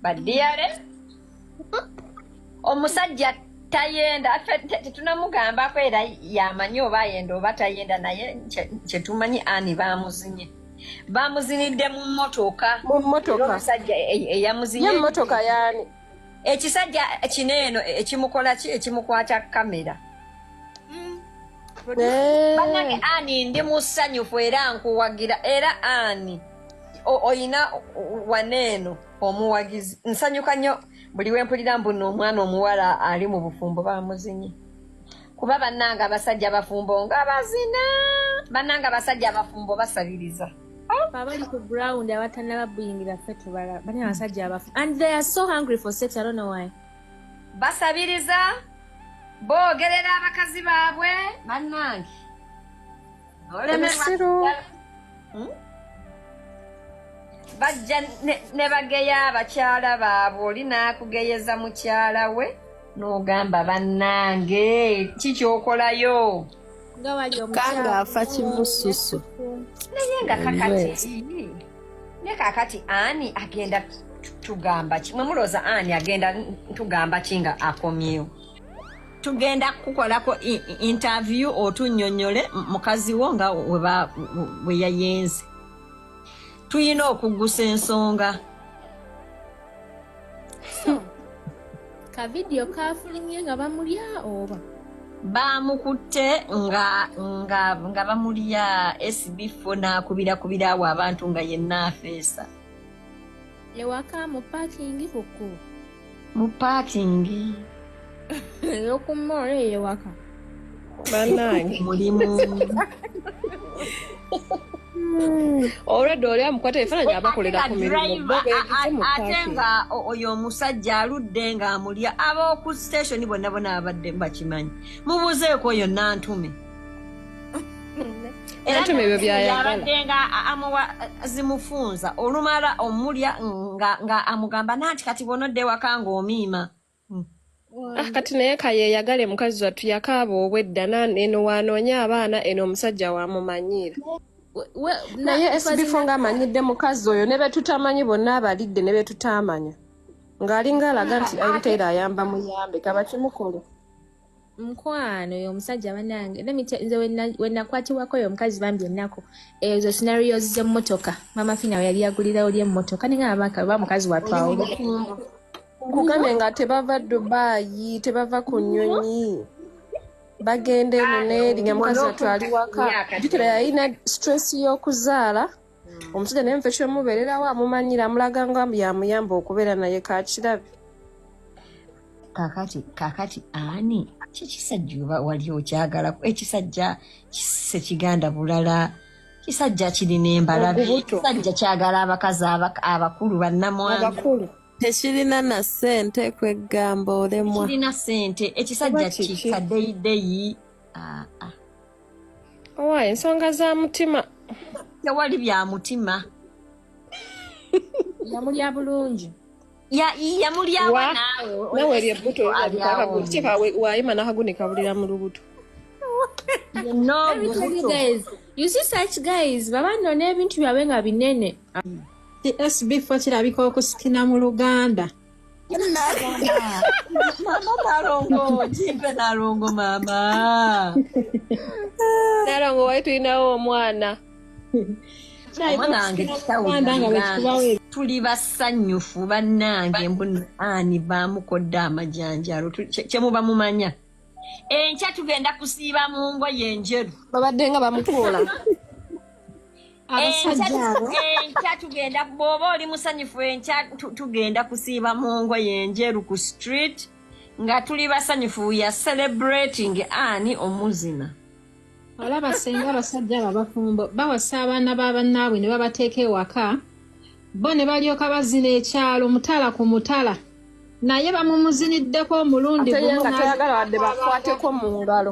badiyale omusajja tayenda tetunamugambako era yamanyi oba ayenda oba tayenda naye kyetumanyi ani bamuzinye bamuzinidde mu motoka mu motoka omusajja eyamuzinye motoka yani ekisajja kino eno ekimukola ki ekimukwata kamera mm. eh. banange ani ndi musanyufu era nkuwagira era ani oyina waneeno omuwagizi nsanyuka nnyo buli wempulira mbuno omwana omuwala ali mu bufumbo bamuzinye kuba banange abasajja abafumbo nga bazina banange abasajja abafumbo basabiriza abali ku ground abatanaba buyingira ffe tubala bali abasajja abafu and they are so hungry for sex i don't know why basabiriza boogerera abakazi baabwe bannange hmm? bajja ne bageya abakyala baabwe oli n'akugeyeza mukyala we n'ogamba bannange kikyokolayo nga wali omukanga afa kimususu naye nga kakati ne kakati ani agenda tugamba ki mwe mulooza ani agenda tugamba ki nga akomyewo tugenda kukolako interview otunyonyole mukazi wo nga weyayenze tulina okugusa ensonga ka vidiyo kafulumye nga bamulya oba baamukutte nga nga nga bamulya esibifo n'akubira awo abantu nga yenna afeesa ewaka mu paakingi ku kkubo mu paakingi eyokumma ola eyewaka banange mulimu olwedde oli amukwata ebifaananyi abakolera ku mirimu ate nga oyo omusajja aludde nga amulya ab'oku station bonna bona abadde bakimanyi mubuzeeko oyo nantume nantume ebyo byayagalaabadde nga amuwa zimufunza olumala omulya nga amugamba nanti kati bwonodda ewaka nga omiima Ah, kati naye kayeyagale mukazi wattu yakaaba obwedda eno waanoonya abaana eno omusajja wamumanyiira naye sbifo nga amanyidde mukazi oyo ne betutamanyi bonna abalidde ne betutaamanya ng'alinga alaga nti aiteera ayamba muyambe kabakimukole mukwano oyo omusajja banange nze wenakwatibwako oyo omukazi bambi ennaku ezo scenarios z'emmotoka mama fina we yali yagulirawo ly emmotoka ninga abaka oba mukazi watwawo nkugambye nga tebava dubayi tebava ku nyonyi bagenda eno neeri nga mukazi watwali waka jukira yalina stress y'okuzaala hmm. omusajja naye mfe kyomubeererawo amumanyira amulaga nga yamuyamba okubeera naye kakirabe kakati kakati ani kyekisajja oba wali okyagala ekisajja kisekiganda bulala kisajja kirina embalabe kisajja kyagala abakazi abakulu bannamwana tekirina na sente kweggamba olemwa kirina sente ekisajja kikadeyideyi ah, ah. owa ensonga za mutima tewali bya mutima yamulya bulungi yamulyawa nawe lyebbuto wayima nakagunika bulira mu lubuto baba nona ebintu byabwe nga binene sbfo kirabika okusikina mu luganda Mama Nalongo, jipe Nalongo mama. Nalongo waitu inawo omwana. Omwana wange kitawulira. Tuli basanyufu bannange mbuni ani baamukodde amajanjalo kye muba mumanya. Enkya tugenda kusiiba mu ngoye enjeru. Babadde nga bamukuula. enkya tugenda bwoba oli musanyufu enkya tugenda kusiiba mu ngoye enjeru ku street nga tuli basanyufu ya celebrating ani omuzina olaba senga abasajja abo abafumbo bawasa abaana ba bannaabwe ne babateeka ewaka bo ne balyoka bazina ekyalo mutala ku mutala naye bamumuziniddeko omulundi gumuyagala wadde bakwateko mu ngalo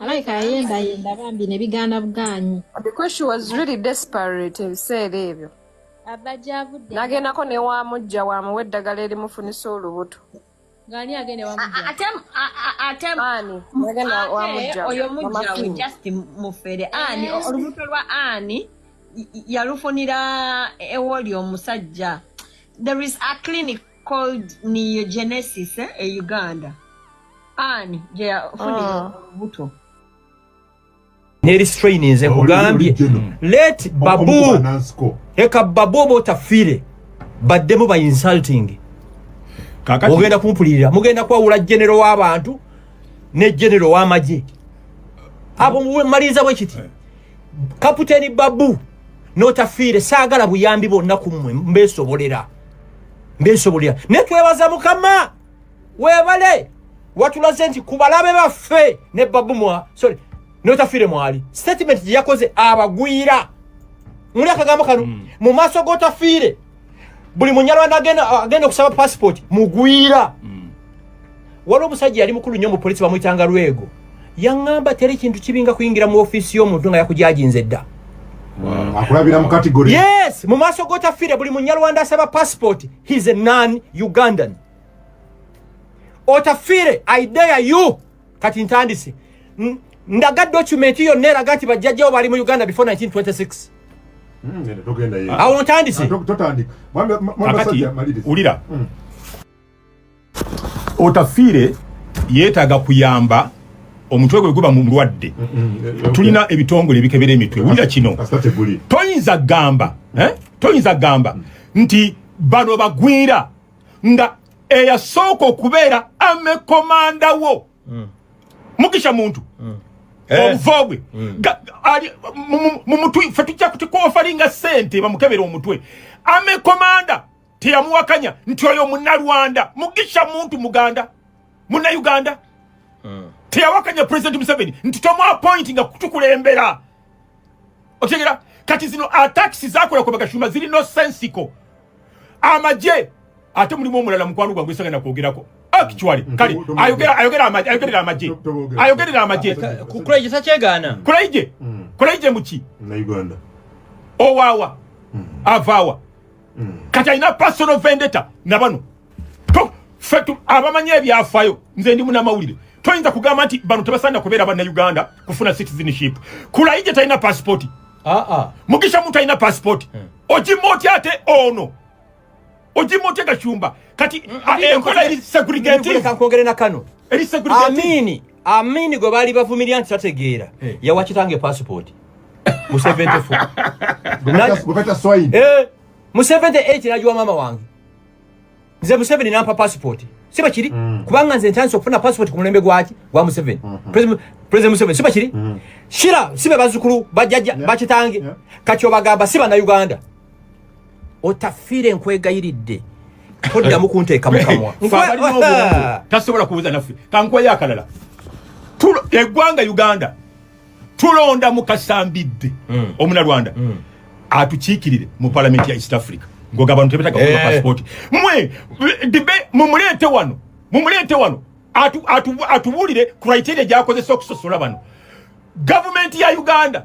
alabika yayendayenda bambi ne bigaana bugaanyi because she was really desperate ebiseera ebyo nagendako newamujja wamuwa eddagala erimufunisa olubuto ngani agende wamujja ate ate ani agende wamujja oyo mujja we just mufere ani eh. olubuto lwa ani yalufunira ewoli omusajja there is a clinic called neogenesis eh, e uganda ani gyeyafunira ah. olubuto neri strain nze nkugambye let babu eka babu oba otafiire baddemu ba insulting ogenda kumpulirira mugenda kwawula genero w'abantu ne genero w'amagye abo mumaliriza bwe kiti eh. kaputeni babu n'otafiire saagala buyambi bonna ku mmwe mbeesobolera mbesobolera naye twebaza mukama webale watulaze nti ku balabe baffe ne babu mwa sorry notafire mwali statement gye yakoze abagwira muli akagambo kano mm. mu maaso g'otafiire buli munyarwanda agenda okusaba passport mugwira mm. waliwo omusajja yali mukulu nnyo mu polisi bamuyitanga lwego yaŋŋamba teri kintu kibinga kuyingira mu ofiisi y'omuntu nga yakujajinze dda mm, akulabira mu kategori yes mu maaso g'otafiire buli munyarwanda asaba passport he's a non ugandan otafiire idea you kati ntandise ndaga document yonna eraga nti bajjajjawo bali mu uganda before 1926 hmm, awo ntandise ah, wulira hmm. Otafiire yeetaaga kuyamba omutwe gwe guba mulwadde mm, mm, eh, eh, tulina ebitongole ebikebera emitwe wulira kino toyinza gamba eh? toyinza gamba mm. nti bano bagwira nga eyasooka okubeera amekomanda wo mugisha muntu obuvobwe mumutwe fe tujja kutikofalinga sente bamukebera omutwe amekomanda teyamuwakanya nti oyo munalwanda mugisha muntu muganda muna uganda hmm. teyawakanya president museveni nti tomu appointi nga kutukulembera otegera kati zino atakisi zakola ku bagashumba ziri no sensiko amaje ate mulimu omulala mukwano gwange esanga nakwogerako actually mm-hmm. kale ayogera ayogera amaje ayogerera amaje ayogerera amaje kulaije sakyegana kulaije mm. kulaije muki na uganda owawa mm. avawa mm. kati alina personal vendetta nabano fe abamanyi ebyafayo nze ndi munamawulire toyinza kugamba nti bano tebasaanira kubeera banna uganda kufuna citizenship kulayije talina pasipoti ah, ah. mugisha muntu alina pasipoti hmm. ojima otya ate ono ojima otya gacumba kati hmm, ah, enkola eri segregative eri segregative Amini gwe baali bavumirira nti tategeera eh. yawa kitange passport mu 74 eh, mu 78 nagiwa maama wange nze museveni nampa passport si bakiri mm. kubanga nze ntandise okufuna passport ku mulembe gwaki gwa museveni mm-hmm. president museveni si bakiri mm. shira si be bazzukulu bajjajja bakitange kati obagamba si bannayuganda otafiire nkwegayiridde toddamu kunteeka mukamwa tasobola kubuza naffe kankwayo akalala eggwanga uganda tulonda mukasambidde mm. omunarwanda mm. atukiikirire mu palamenti ya east africa ngoga abantu tebetaga kuba eh. pasipoti mwe dibe mumuleete wano mumuleete wano atubuulire criteria gyakozesa okusosola bano gavumenti ya uganda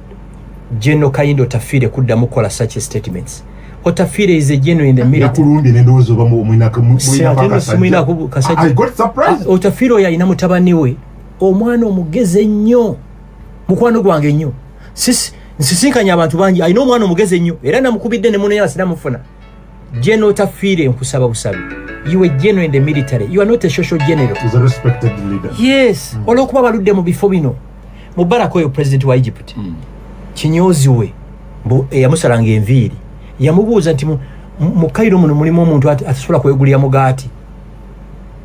General Kayindo Tafire kuddamu kukola such statements. Otafire is a general in the military. Yakurundi nende ozo bamu mwina kamu mwina pakasa. Mwina kubu kasaji. I got surprised. Ah, Otafire oya ina mutabani we. Omwana omugeze nyo. Mukwano gwange nyo. Sisi, nsisinkanya abantu bangi. I know omwana omugeze nyo. Era namukubidde ne muno yala sinamu funa. General Tafire nkusaba busabi. You were general in the military. You are not a social general. He's a respected leader. Yes. Mm. Olwokuba baludde mu bifo bino. Mubarak oyo president wa Egypt. Mm. Kinyozi we. Mbu eyamusalanga eh, enviiri. Yamubuuza nti mu Cairo muno mulimu omuntu atasobola kwegulira mugaati.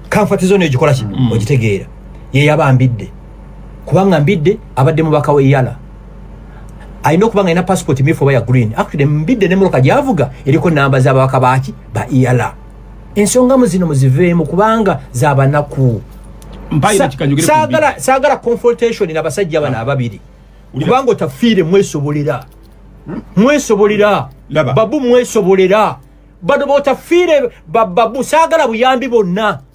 Kanfati zone ekikola kino mm. ogitegeera. Ye yabambidde. kubanga mbidde abadde mubaka we yala alina okuba nga alina passport myufu oba ya green actually mbidde ne muluka gyavuga eriko namba z'ababaka baaki ba yala ensonga mu zino muziveemu kubanga zabanaku saagala confrontation nabasajja bano ah. ababiri kubanga otafiire mwesobolera hmm? mwesobolera babu mwesobolera bano botafiire bababu saagala buyambi bonna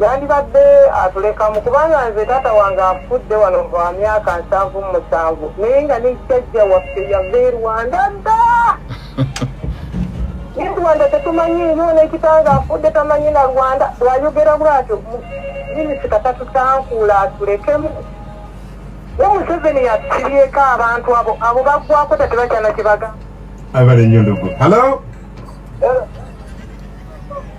yandibadde atulekamu kubanga nze taata wange afudde wano lwa myaka nsanvu mu musanvu naye nga ne jjajja waffe yava e rwanda dda ne rwanda tetumanyi nyo nekitanga afudde tamanyi na rwanda wayogera bwatyo minisita tatutankuula atulekemu ne museveni yatusibyeko abantu abo abo bagwako tetebakyana kyebaga abale nyo ndogo halo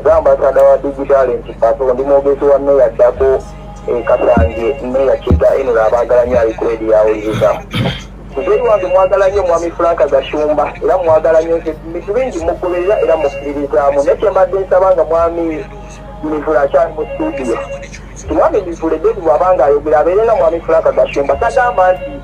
nga ambasada wa digitale nti pato ndi mwogezi wa meya ddako ekasange eh, meya kyega enula abaagala nyo alikwedi yawuliriza muzei wange mwagala nyo omwami franka gashumba era mwagala nyo bintu bingi mugoberera era mukkiririzaamu naye kyembadde nsaba nga mwami mivula akyali mu studio mwami mivula edeni bwabanga ayogera abeere nga mwami franka gashumba sagamba nti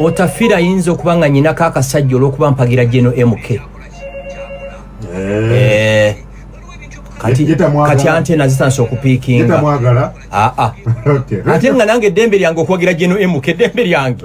otafira ayinza okuba nga nyinako akasajja olwokuba mpagira geno mk eh. Eh. kati ante nazitandisa okupiikinga ah, ah. ate nga nange eddembe lyange okuwagira geno mk eddembe lyange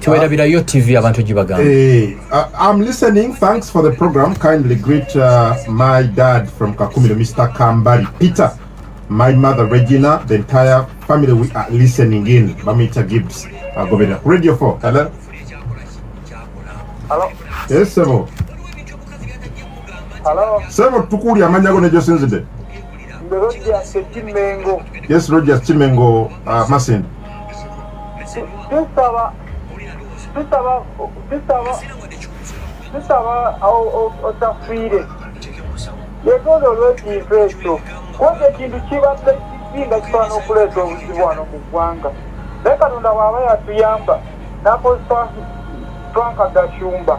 tiwerabirayo tv abantu gibagamba eh, uh, i'm listening thanks for the program kindly greet uh, my dad from kakumiro mr kambari peter my mother regina the entire family we are listening in bamuyita gibbs agobera uh, radio 4 hello hello yes sebo hello sebo tukuuli amanya go nejosinzide mbe rogers kimengo yes rogers kimengo uh, masindi tusaba tusaba tusaba tusaba otafiire yetonda olwekintu ekyo kubanga ekintu kibadde kisinga kisobola okuleeta obuzibu wano mu ggwanga naye katonda waaba yatuyamba nakozesa twanka gashumba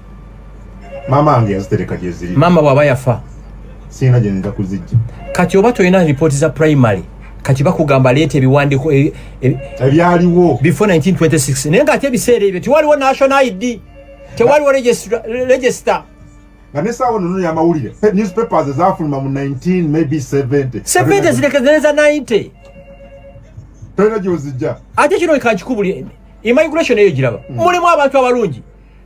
maama wange yazitereka gyeziri maama bwaba yafa sirina gyenzija kuzijja kati oba tolina ripooti za primary kati bakugamba leeta ebiwandiiko e, e, ebyaliwo before 1926 naye ngaate ebiseera ebyo tewaliwo national id tewaliwo register nga nesaawa nono yamawulire newspapers ezafuluma mu 19 maybe 70 70 zirekezeneza 90 tolina gyozijja ate kino kankikubuli immigration eyo giraba mm. mulimu abantu abalungi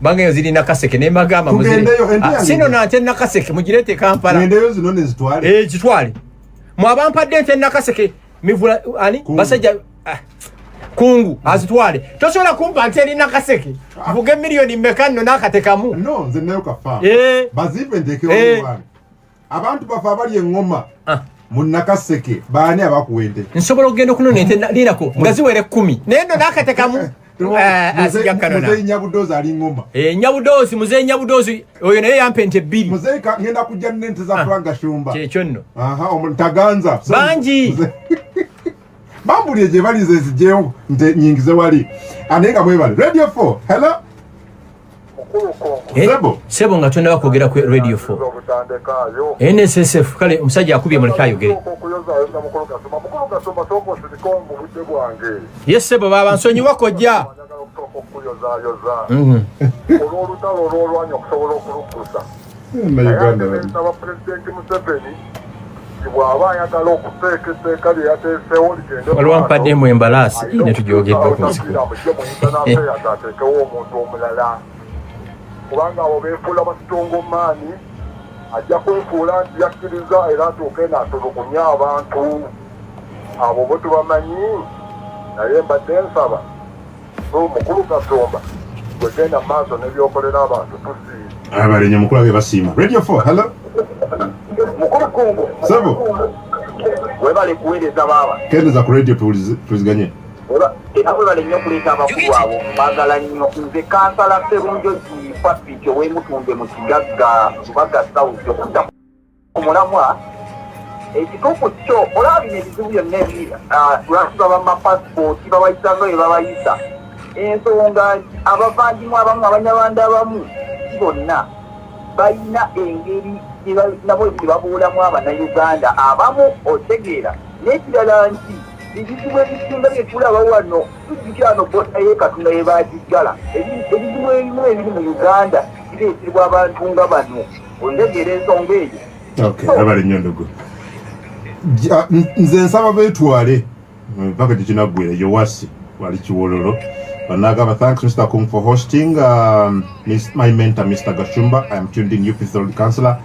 bange yo ziri nakaseke ne magamba muzire ah, sino na ate nakaseke mujirete kampala nende yo zino ne zitwale eh zitwale mwabampa dente nakaseke mivula ani kungu. basaja ah, kungu mm. azitwale tosobola kumpa nti eri nakaseke ah. vuge milioni mekano nakatekamu no nze nayo kafa eh bazipe ndeke eh. abantu bafe abali eŋŋoma ah. mu nakaseke baani abakuwa ente nsobola okugenda okunona ente lirako nga ziwera ekkumi naye no nakatekamu eh, eh, nyabudoozi ali ŋoma eh, nyabudoozi muzeyi nyabudoozi oyo naye yampa ente ebbiri muzeyi ngenda kujja nente za ah. franga shumba kyekyo nno omuntaganza bangi bambulire gye bali nze nzijeewo nte nyingize wali anaye nga mwebale radio 4 hello eh, sebo sebo nga tondaba kwogera ku radio 4 nssf kale omusajja akubye muleke ayogere ye sebo baba nsonyiwa kojja mhm. olwolutalo olwolwanya okusobola okulukusa nsaba pulezidenti museveni bw'aba ayagala okuteeka etteeka lye yateesewo ligendeolwampademu embalaasi ne tujogeddwa ku nsikaateekewo omuntu omulala kubanga abo beefuula basitongomaani ajja kwefuula nti yakkiriza era atuuke naatulugunya abantu abo bo tubamanyi naye mbadde nsaba mukulu kasumba gwegenda maaso nebyokolera abantu tusiima abalenye mukulu abe basiima radio 4 hello mukulu kungu sebo webale kuweereza baaba kendeza ku radio tuwuliziganye era webale nnyo okuleeta abakulu abo bagala nnyo nze kansala serunjo gifafico wemutunde mu kigagga lubaga sauti okutta omulamwa ekituufu kyo olaba bino ebizibu byonna ebiri ah, lwaki baba mapasipooti babayisa nga bye babayisa ensonga nti abavandimu abamu abanyarwanda abamu si bonna balina engeri nabo nti babuulamu abanauganda abamu otegeera n'ekirala nti ebizibu ebisinga byetulaba wano tujikyano bota yekatonda yebagiggala ebizibu ebimu ebiri mu uganda bireetebwa abantu nga bano ondegeera ensonga eyo okay abale nnyo ndugu nze nsaba betwale mpaka gyekinaggwera yowasi wali kiwololo banagamba thanks mr kung for hosting um, my mentor mr gashumba i am tuned in upc road councilor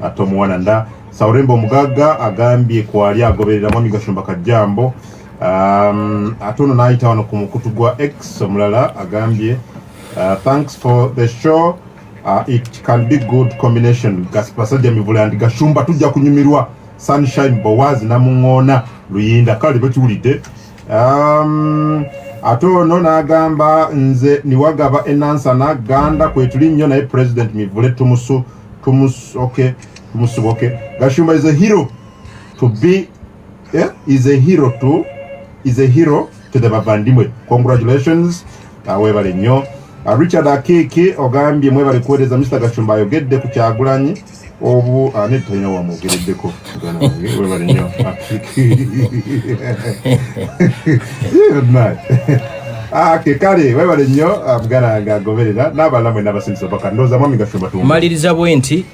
ate omuwana nda sauremba omugagga agambye kwali agoberera mwami gashumba kajjambo um, ate ono n'ayita wano ku mukutu gwa x omulala agambye uh, thanks for the show Uh, it can be good combination Basajja Mivule and Gashumba tujja kunyumirwa Sunshine Boaz na Mungona Luyinda kale bakiwulidde um, ate ono n'agamba nze niwagaba enansana ganda kwetuli nnyo naye president mivule tumusu tumusoke tumusuboke gashumba is a hero to be yeah, is a hero to is a hero to the bavandimwe congratulations uh, webale nnyo uh, richard akeke ogambye mwebale kuweereza mr gashumba ayogedde ku kyagulanyi obu uh, netalina wamwogereddeko webale nnyo ake kale webale nnyo uh, mugana nga agoberera n'abalamwe n'abasindisa paka ndowooza mwami gashumba tumaliriza bwe nti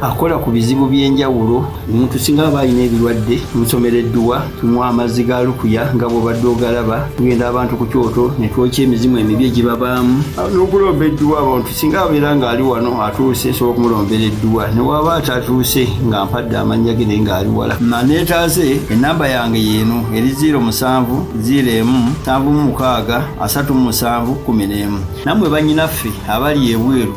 akola ku bizibu by'enjawulo omuntu singa aba alina ebirwadde tumusomera edduwa tunywa amazzi ga lukuya nga bwobadde ogalaba tugenda abantu ku kyoto ne twokya emizimu emibi egibabaamu n'okulomba edduwa abantu singa abeera ng'ali wano atuuse nsobola okumulombera edduwa ne waaba atatuuse nga mpadde amannya ge naye ng'ali wala maneetaase ennamba yange yeeno eri ziiro musanvu ziiro emu nsanvu mu mukaaga asatu mu musanvu kkumi n'emu nammwe bannyinaffe abali ebweru